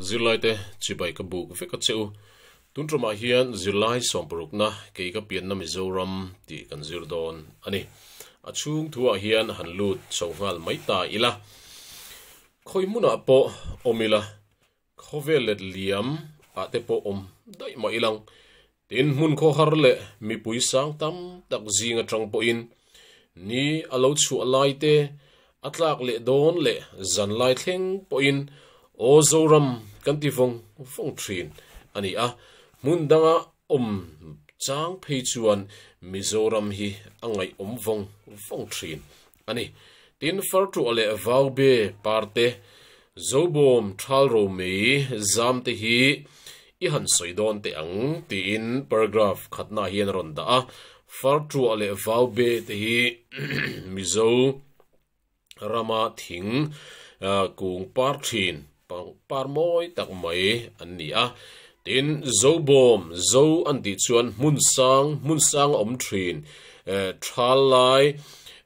Zirlaite chibai ka buk vek a che u. Tun ṭawmah hian zirlai sawmparukna kei ka pianna Mizoram tih kan zir dawn a ni. A chhung thu ah hian han lut chho nghal mai ta ila. Khawi hmun ah pawh awm ila. Khawvel let liam ah te pawh awm daih mah ilang. Tin, hmun khaw har leh mipui sang tam tak zing atang pawhin ni a lo chhuah laite a tlak leh dawn leh zan lai thleng pawhin aw Zoram kan ti vawng vawng thin a ni a. Hmun danga awm chang phei chuan Mizoram hi a ngaihawm vawng vawng thin a ni. Tin, fartuah leh vaube parte, zobawm thal romei zam te hi i han sawi dawn teh ang, tiin paragraph khatnaah hian a rawn dah a. Fartuah leh vaube te hi Mizo rama thing kung par thin, Pangpar mawi tak mai an ni a. Tin, zo bawm, zo an tih chuan hmun sang, hmun sang a awm thin, thal lai,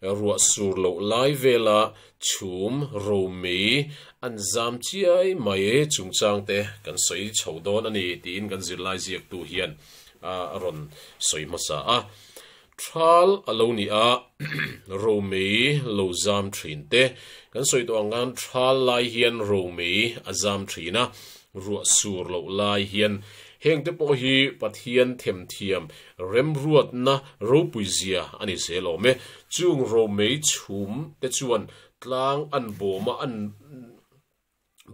ruah sur loh lai vela chhum, romi, an zam chiai mai chungchang te kan sawi chho dawn a ni, tiin kan zirlai ziaktu hian a rawn sawi hmasa a. Thal a lo ni a, romei lo zam thin te kan sawi tawh ang khan thal lai hian romei a zam thin a, ruah sur loh lai hian heng te pawh hi Pathian themthiam remruatna ropuizia a ni zel awm e. Chung romei chhum te chuan tlang an bawm a, an.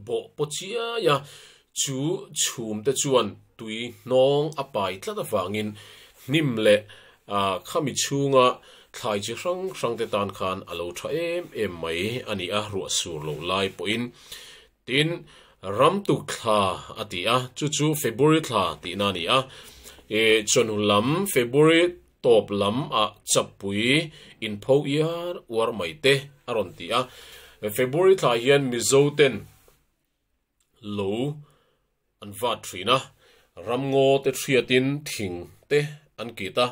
bawh pawh chiai a, chu chhum te chuan tui hnawng a pai tlat avangin hnim leh khami chhunga thlai chi hrang hrang te tan khan a lo tha em em mai a ni a, ruah sur loh lai pawhin. Tin, ramtuk thla a ti a, chu chu February thla tihna a ni a. Chawnu lam February Tawp lam a chapui in pho iar uar mai te a rawn ti a. February thlai hian Mizo ten lo an vat thin a, ramngaw te hriat in thing te an kit a,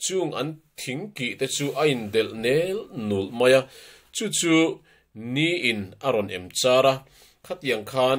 chung an thing kih te chu a in delh nel nul mai a, chu chu ni in a rawn em char a, khatiang khan,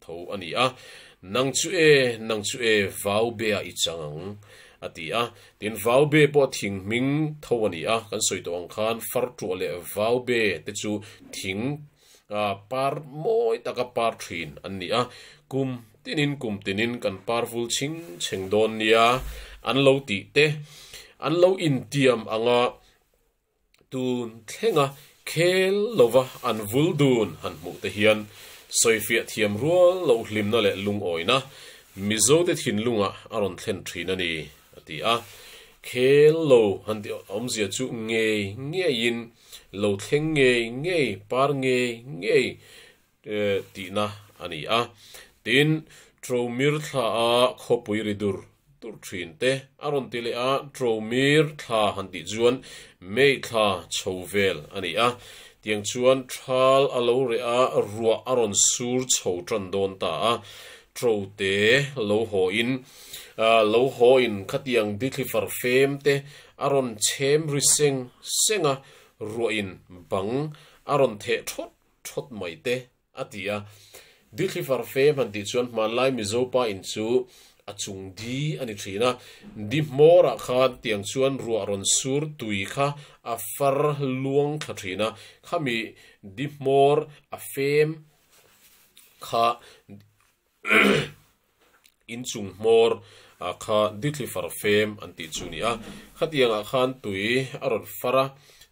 Tho a ni a, nang chu e, nang chu e, vau be ah i chang ang, a ti a. Tin, vau be pawh thing hming tho a ni a, kan sawi tawh ang khan far tuah leh vau be te chu thing a par mawi taka par thin an ni a, kum tinin kum tinin kan par vul ching cheng dawn nia an lo tih te, an lo intiam ang a. Tun thlenga khel lova an vul dun han hmuh te hian sawifiah thiam rual loh hlimna leh lungawina Mizote thinlungah a rawn thlen thin a ni, a ti a. Khel lo han ti awmzia chu ngei ngeiin, lo thleng ngei ngei, par ngei ngei, tihna a ni a. Tin, Tromir thla a khawpui ri dur dur thin te a rawn ti leh a, Tromir thla han tih chuan May thla chho vel a ni a. Tiang chuan thal a lo reh a, ruah a rawn sur chho tan dawn ta a, tro te lo haw in lo haw in khatiang ditli far fem te a rawn chhem ri seng seng a, ruah in bang a rawn theh thawt thawt mai te, a ti a. Dihlifar fe hman tih chuan hmanlai Mizo pa in chu a chung di a ni thin a. Dihmawr ah khan tiang chuan ruah rawn sur tui kha a far luang thla thin a, khami dihmawr a fem kha inchung hmawr ah kha ditli far fem an tih chu ni a, khatiang ah khan tui a rawn far a,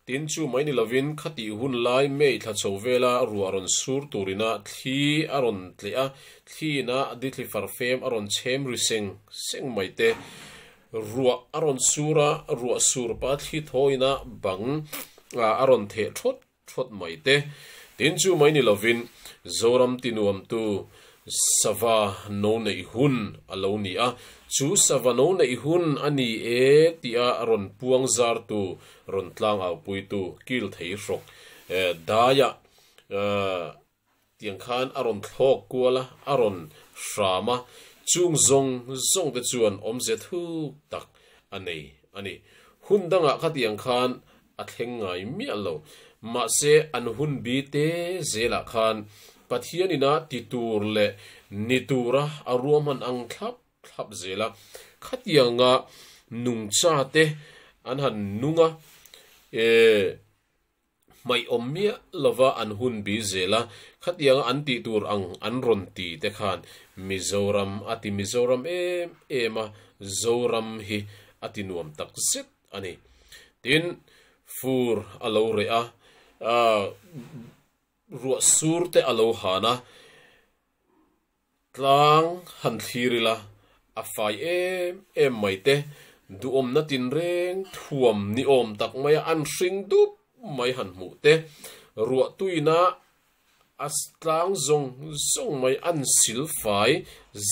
tin chu mai ni lovin khatih hun lai mei thla cho vela ruah rawn sur turin a thli a rawn tleh a, thli in a ditli far fem a rawn chhem ri seng seng mai te ruah a rawn sur a, ruah sur pa thli thaw in a bang ah a rawn theh thawt. thlawt mai te. Tin chu mai ni lovin Zoram tinuamtu sava no neih hun a lo ni a, chu sava no neih hun a ni e tia rawn puang zartu, rawn tlang aupuitu Kilthei Hrok Daiah Tiang khan a rawn thlawk kual a, a rawn hram a, chung zawng zawng te chuan awm zia thuk tak a nei a ni. Hun dangah khatiang khan a thleng ngai miah lo. Mahse, an hun bite zelah khan Pathian ina ti tur leh ni tura a ruahman ang thlap thlap zel a. Khatianga nungcha te an han nung a, ee, hmaiawm miah lova an hun bi zel a, khatianga an tih tur ang an rawn ti te khan Mizoram a ti Mizoram em em a, Zoram hi a ti nuam tak zet a ni. Tin, fur a lo reh a, ruah sur te a lo han a, Tlang han thlir ila, a fai em em mai te, duhawmna tinreng thuam ni awm tak maia an hring dup mai han hmuh te, ruah tuina a tlang zawng zawng mai an sil fai,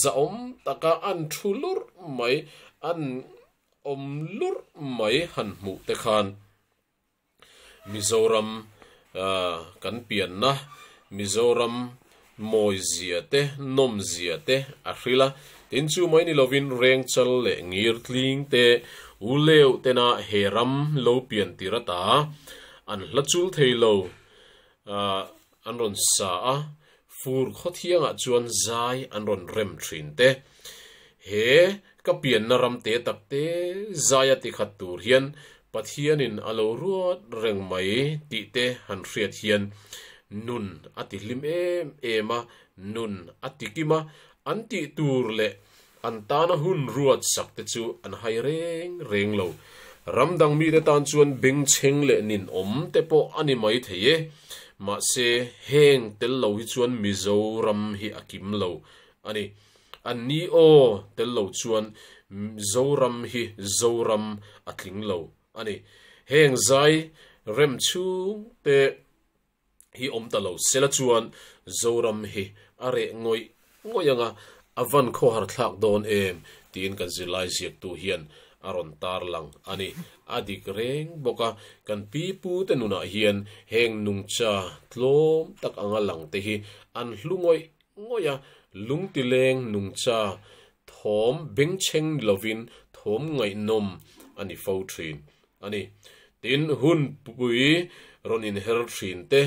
zahawm taka an thu lurh mai, an awm lurh mai han hmuh te khan Mizoram kan pianna Mizoram mawizia te nawmzia te a hril a, tin chu mai ni lovin Rengchal leh Ngirtling te U Leu tena he ram lo pian tir ata an hla chul thei lo. an rawn sa a, fur khawthiangah chuan zai an rawn rem thin te. He ka pianna ram te tak te zaia ti khat tur hian Pathianin a lo ruat reng mai tih te han hriat hian nun a ti hlim em em a, nun a ti kim a, an tih tur leh An tana hun ruat sak te chu an hai reng reng lo. Ram dang mite tan chuan bengchheng leh nin awm te pawh a ni mai thei e. Mahse, heng tel lo hi chuan Mizoram hi a kim lo a ni. An ni aw tel lo chuan Zoram hi Zoram a tling lo a ni. Heng zai rem chhung te. hi awm ta lo sela chuan Zoram hi a reh ngawih ngawih anga a van khaw har thlak dawn em tiin kan zirlai ziaktu hian a rawn tarlang a ni. A dik reng bawk a, kan pi pu te nunah hian heng nungcha tlawm tak anga lang te hi an hlu ngawih ngawih a, lungtileng nungcha thawm bengchheng ni lovin thawm ngaihnawm a ni fo thin. a ni. Tin, hun pui rawn inher thin te,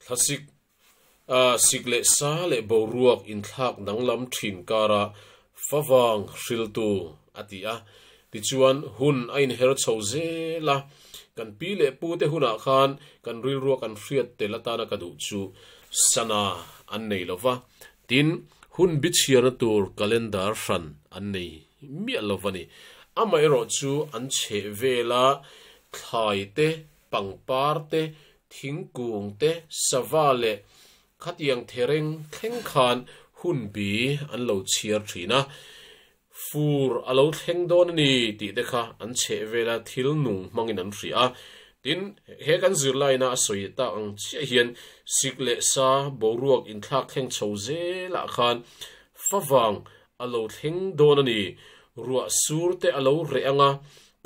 thlasik sik leh sa leh boruak inthlak danglam thin karah fa vang hriltu a ti a. Tichuan, hun a inher chho zel a, kan pi leh pu te hunah khan kan rilruak an hriat tel atana ka duh chu sana an nei lo va. Tin, hun biachhiarna tur calendar hran an nei miah lo a ni. Amaherawh chu an chheh vela thlai te, pangpar te, thingkung te, sava leh khatiang thereng thleng khan hun bi an lo chhiar thin a. fur a lo thleng dawn a ni tih te kha an chheh vela thil nung hmangin an hria a. Tin, he kan zirlaina a sawi tak ang chiah hian sik leh sa boruak inthlak thleng chho zelah khan fa vang a lo thleng dawn a ni, ruah sur te a lo reh ang a,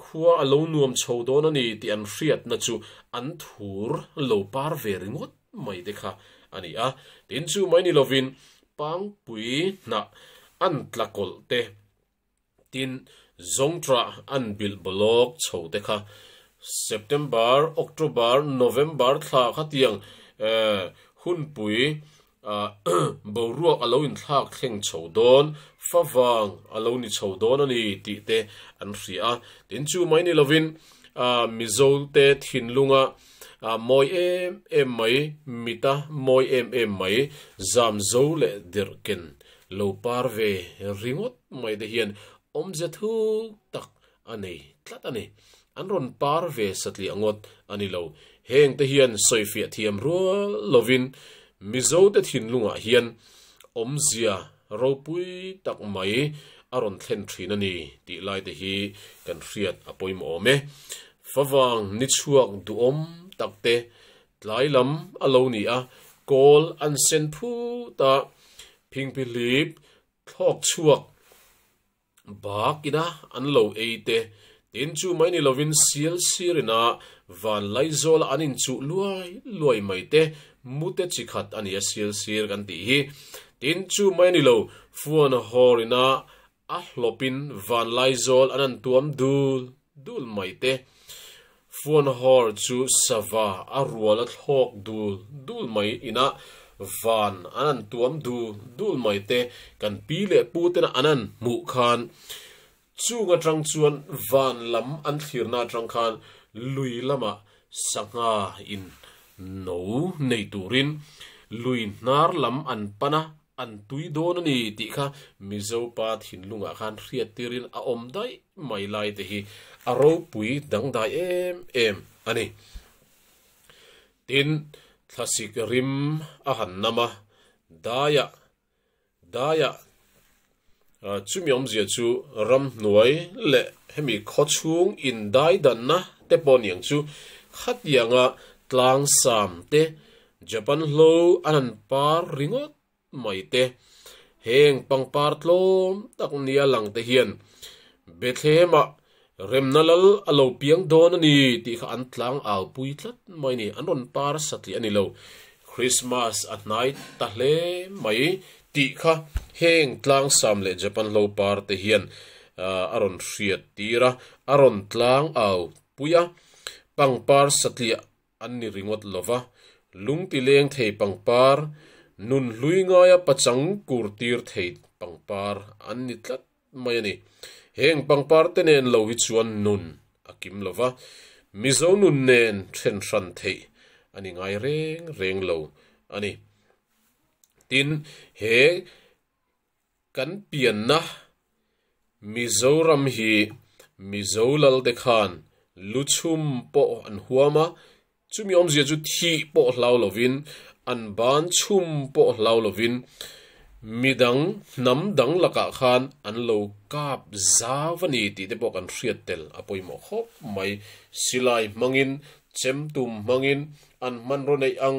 khua a lo nuam chho dawn a ni tih an hriatna chu an thur lo par ve ringawt. mai te kha a ni a, tin chu mai ni lovin pangpui hnah an tla kawlh te, tin zawngṭa an bilh bawlawk chho te kha September, October, November thla kha tiang hunpui boruak a lo inthlak thleng chho dawn, fa vang a lo ni chho dawn a ni tih te an hria a, tin chu mai ni lovin Mizote thinlunga a mawi em em mai, mit a mawi em em mai, zam zo leh dirh ken lo par ve ringawt mai te hian awmze thuk tak a nei tlat a ni. An rawn par ve satliah ngawt a ni lo. Heng te hian sawifiah thiam rual lovin Mizote thinlungah hian awmzia Ropui tak mai a rawn thlen thin a ni tih lai te hi kan hriat a pawimawh awm e. Favang ni chhuak duhawm tak te tlai lam a lo ni a, kawl an sen phut a, phingpihlip thlawk chhuak, Bak ina an lo ei te, tin chu mai ni lovin sial sir ina van lai zawla an in chuh luai luai mai te, mu te chi khat a nia sial sir kan tih hi. Tin chu mai ni lo, fuan hawr ina a hlawpin van lai zawl an an tuam dul. Dul mai te. Fuanhawr chu sava a rual a thlawk dul dul mai inah van an an tuam dul dul mai te. Kan pi leh pu tena an an hmuh khan chung atang chuan van lam an thlirna atang khan lui lama sangha in no nei turin lui hnar lam an pan a, An tui dawn a ni tih kha Mizo pa thinlungah khan hriat tirin a awm daih mai lai te hi a ropui dangdai em em a ni. Tin, thlasik rim a han nam a, Daiah, Daiah Chumi awmzia chu ramhnuai leh hemi khawchhung indaidanna te pawh niang chu khatianga tlangsam te, Japan hlo an han par ringawt mai te, heng pangpar tlawm tak nia lang te hian Bethlehemah Remna lal a lo piang dawn a ni tih kha an tlang au pui tlat mai a ni. An rawn par sa tliah a ni lo. Krismas a hnai ta hle mai tih kha heng tlangsam leh Japan hlo par te hian a rawn hriat tir a, a rawn tlang au pui a, pangpar sa tliah An ni ringawt lo va, lungti leng thei pangpar, nun hlui ngaia pachang kur tir thei pangpar an ni tlat mai a ni. Heng pangpar te nen lo hi chuan nun a kim lo va, Mizo nun nen then hran theih a ni ngai reng reng lo a ni. Tin, he. Kan pianna, Mizoram hi Mizo lalte khan lu chhum pawh an huam a, chumi awmzia chu thih pawh hlau lovin, an ban chhum pawh hlau lovin midang hnam dang lakah khan an lo kap zau a ni tihte pawh kan hriat tel a pawimawh khawp mai. Silai hmangin, chem tum hmangin an hmanraw neih ang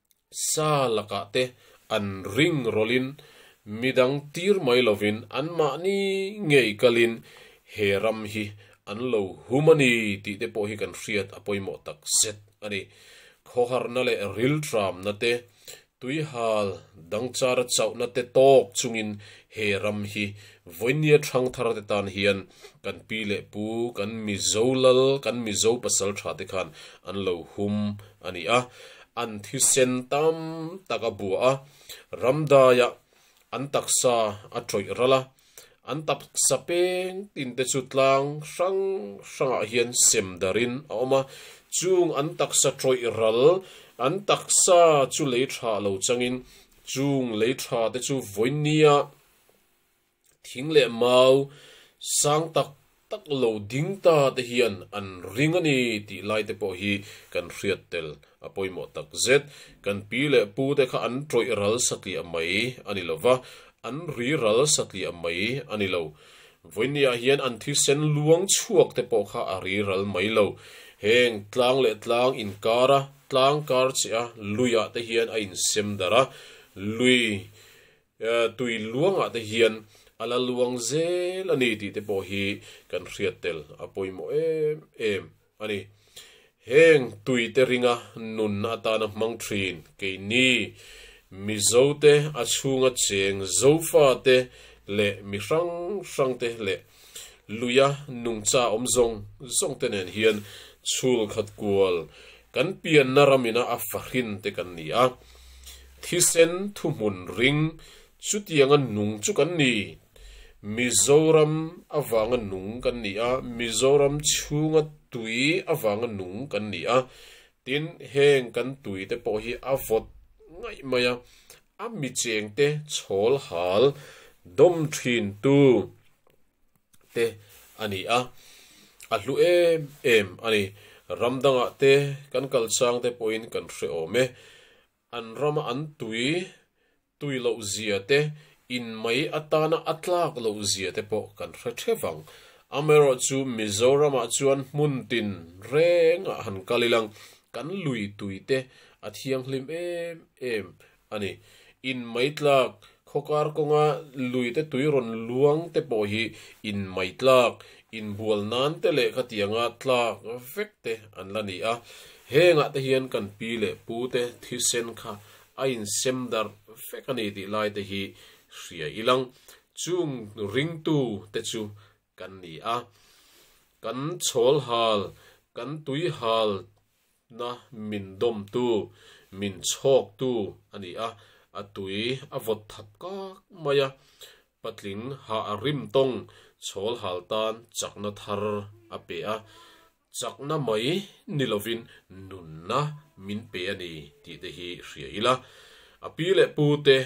Sa lakah te an ring rawlhin midang tir mai lovin anmahni ngei kalin he ram hi an lo hum a ni tih te pawh hi kan hriat a pawimawh tak zet a ni. Khawharna leh rilṭamna te, tuihal dangchara chauhna te tawk chungin he ram hi vawinia ṭhangthar te tan hian kan pi leh pu, kan Mizo lal, kan Mizo pasalṭha te khan an lo hum a ni a. An thisen tam tak a bua a, ramdaiah an taksa a tawih ral a, an taksa peng tinte chu tlang hrang hrangah hian sem darin a awm a, chung an taksa tawih ral, an taksa chu lei tha lo changin chung lei thate chu vawinia, Thing leh mau sang tak tak lo ding ta te hian an ring a ni tih lai te pawh hi kan hriat tel a pawimawh tak zet. Kan pi leh pu te kha an tawih ral satliah mai a ni lova, an ri ral satliah mai a ni lo. Vawinia hian an thisen luang chhuak te pawh kha a ri ral mai lo. Heng tlang leh tlang inkar a, tlang kar che a, luiah te hian a insem darh a, lui tui luangah te hian a la luang zel a ni tih te pawh hi kan hriat tel a pawimawh em em a ni. Heng tui te ringa nun atana hmang thin keini Mizo te a chhunga cheng Zofa te leh mi hrang hrang te leh Luia nungcha awm zawng zawngte nen hian chhul khat kual kan pianna ram ina a fahrin te kan ni a, thisen thuhmun ring chutianga nung chu kan ni. Mizoram avanga nung kan ni a, Mizoram chhunga tui avanga nung kan ni a, tin heng kan tui te pawh hi a vawt ngaih mai a, A micheng te chawl hal dawm thin tu te a ni a, a hlu em em a ni. Ram dangah te kan kal chang te pawhin kan hre awm e. An rama an tui tui loh zia te, in mai atana a tlak loh zia te pawh kan hre thep ang. Amaherawhchu Mizoramah chuan hmun tin rengah han kal ilang, Kan lui tui te a thianghlim em em a ni. In maitlak, Khawkar kawnga lui te tui rawn luang te pawh hi in maitlak, in bual nan te leh khatianga tlak vek te an la ni a. Hengah te hian kan pi leh pu te thisen kha a in sem darh vek a ni tih lai te hi hria i lang. Chung ringtu te chu kan ni a, kan chawlhal, kan tuihalna min dawmtu, min chhawktu a ni a, a tui a vawt thap kak mai a, patling hah rim tawng chhawlhal tan chakna thar a pe a. Chakna mai ni lovin nunna min pe a ni tih te hi hria ila, a pi leh pu te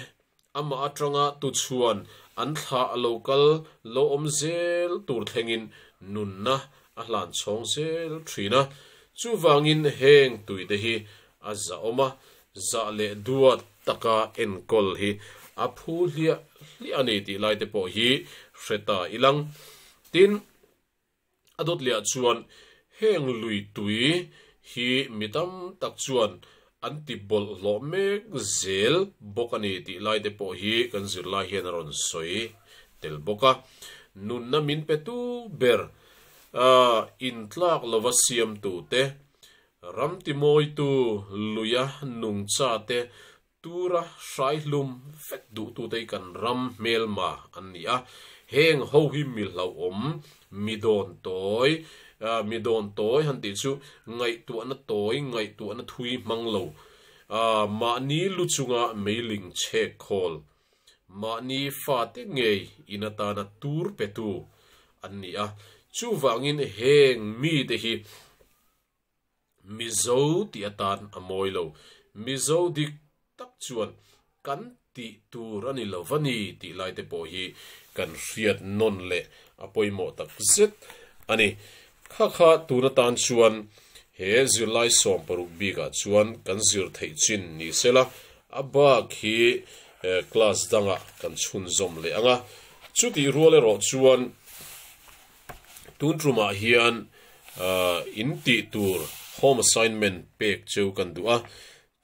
amah atanga tuchhuan an thlah a lo kal lawm zel tur thlengin nunna a hlan chhawng zel thin a. Chuvangin heng tui te hi a zahawm a, zah leh duat taka enkawl hi a phu hliah hliah a ni tih lai te pawh hi hre ta ilang. Tin. A dawt lehah chuan heng lui tui hi mi tam tak chuan an ti bawlh hlawh mek zel bawk a ni tih lai te pawh hi kan zirlai hian a rawn sawi tel bawk a. Nunna min pe tu ber in tlak lova siamtute, ram timawitu luia nungcha te Tura hrai hlum vek duhtute hi kan ram hmelma an ni a, heng ho hi mi hlauhawm, mi dawn tawi, mi dawn tawi han tih chu ngaihtuahna tawi, ngaihtuahna thui hmang lo, mahni lu chunga meiling chhek khawl, mahni fate ngei in atana tur petu an ni a. Chuvangin heng mite hi. Mizo tih atan a mawi lo. Mizo dik tak chuan kan tih tur a ni lo va ni tih lai te pawh hi kan hriat nawn leh a pawimawh tak zet a ni. Kha kha tun atan chuan he zirlai sawm paruk bikah chuan kan zir theih chin ni se la, a bak hi class dangah kan chhunzawm leh ang a. Chutih rual erawh chuan. Tun tumah hian in tih tur home assignment pek cheu kan duh a,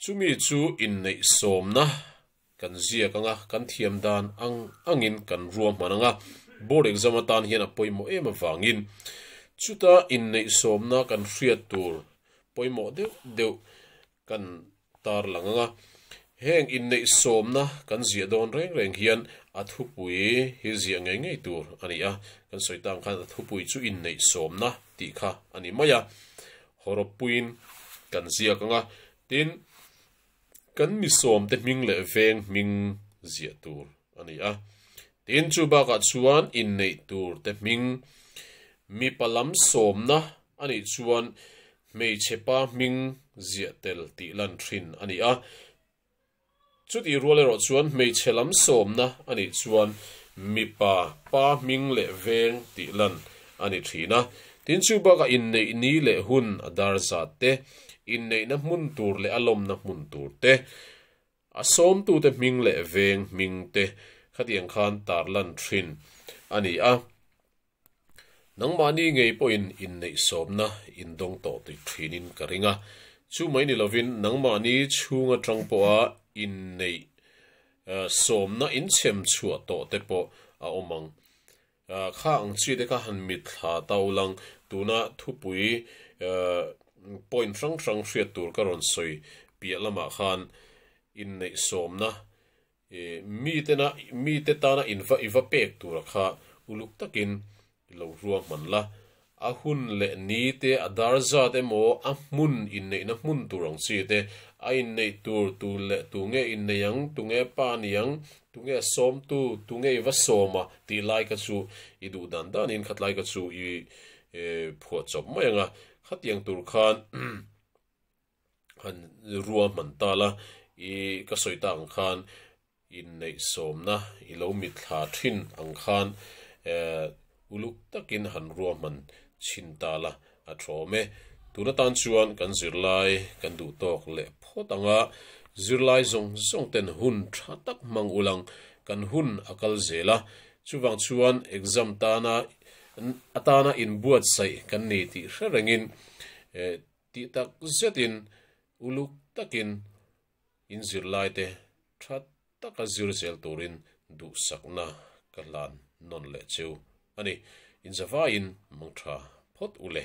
chumi chu inneih sawmna kan ziak ang a, kan thiam dan ang angin kan ruahman ang a, board exam atan hian a pawimawh em avangin chuta inneih sawmna kan hriat tur pawimawh deuh deuh. kan tar lang ang a, heng inneih sawmna kan ziah dawn reng reng hian a thupui hi ziah ngei ngei tur a ni a, kan sawi tan khan a thupui chu inneih sawmna tih kha a ni mai a, hawrawppuiin kan ziak ang a, tin kan misawmte hming leh veng hming ziah tur. A ni a. Tin, chu bakah chuan inneih tur te hming mipa lam sawmna a nih chuan hmeichhepa hming ziah tel tih lan ṭhin a ni a. Chutih rual erawh chuan hmeichhe lam sawmna a nih chuan mipa pa hming leh veng tih lan a ni ṭhin a. Tin, chu bakah inneih ni leh hun a dar zat te, inneihna hmun tur leh a lawmna hmun tur te, A sawmtute hming leh veng hming te khatiang khan tarlan thin a ni a, nangmahni ngei pawhin inneih sawmna in dawng tawh tih thinin ka ring a. Chu mai ni lovin nangmahni chhung atang pawha inneih sawmna in chhem chhuah tawh te pawh a awm ang. Kha ang chi te kha han mit thla ta u lang, tuna thupui point hrang hrang hriat tur ka rawn sawi piah lamah khan inneih sawmna mi tena mi te tana i va pek tura kha uluk takin i lo ruahman la, a hun leh ni te, a dar zat emaw, a hmun inneihna hmun tur ang chi te, a inneih tur, tu leh tu nge innei ang, tu nge pa a ni ang, tu nge a sawmtu, tu nge i va sawm a tih laika chu i duh dan danin khatlaika chu i phuah chawp mai ang a. Khatiang tur khan. han rua hman tal a, i ka sawi ta ang khan inneihsawmna i lo mit thla thin ang khan uluk takin han rua hman chin tal a, a thawm e. Tuna tan chuan kan zirlai kan duh tawk leh phawt ang a, zirlai zawng zawng ten hun tha tak hmang ulh ang, kan hun a kal zel a, chuvang chuan exam tana atana inbuatsaih kan ni tih hre rengin Tih tak zetin uluk takin in zirlaite tha taka zir zel turin duhsakna ka hlan nawn leh chu a ni. Inzavaiin mangtha phawt u le.